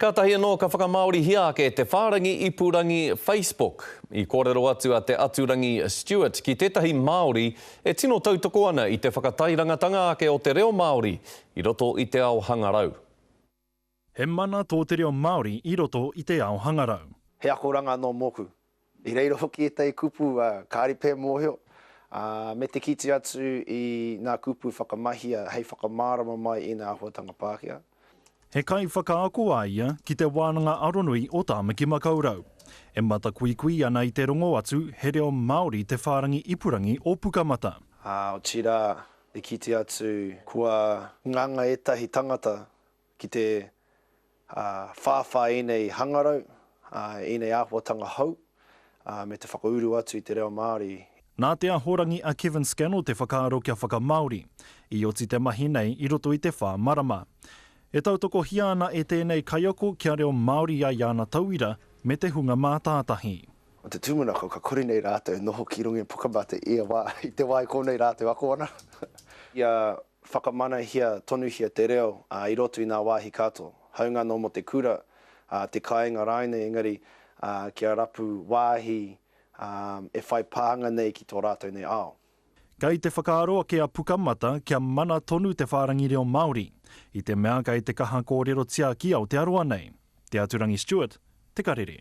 Kātahi anō ka whakamāorihia ake te whārangi ipurangi Facebook. I kōrero atu a Te Aturangi Stewart ki tētahi Māori e tino tautoko ana i te whakatairangatanga ake o te reo Māori i roto i te ao hangarau. He mana tō te reo Māori i roto i te ao hangarau. He akoranga nō mōku. I reira hoki ētahi kupu kāre pea e mōhio, ā, me te kite atu i ngā kupu whakamahia hei whakamārama mai i ngā āhuatanga Pākehā. He kaiwhakaako a ia ki Te Wānanga Aronui o Tāmaki-makau-rau. E matakuikui ana i te rongo atu he reo Māori te whārangi ipurangi o Pukamata. Ā, otirā, i kite atu kua nganga ētahi tangata Ki te whāwhā ēnei hangarau, ēnei āhuatanga hou, me te whakauru atu i te reo Māori. Nā Te Ahorangi a Kevin Scannell te whakaaro kia whakamāori, i oti te mahi nei i roto i te whā marama. E tautokohia ana e tēnei kaiako kia reo Māori ai āna tauira me te hunga mātātahi. O te tūmanako ka kore nei rātou e noho ki runga i Pukamata i te wā i konei rātou ako ana. I a Whakamanahia tonuhia te reo i roto i ngā wāhi katoa, haunga anō mō te kura, te kāinga rāinei engari kia rapu wāhi e whai pānga nei ki tō rātou nei ao. Kei te whakaaro ake a Pukamata kia mana tonu te whārangi reo Māori, i te mea kei te kaha kōrerotia ki Aotearoa nei. Te Aturangi Stewart, Te Karere.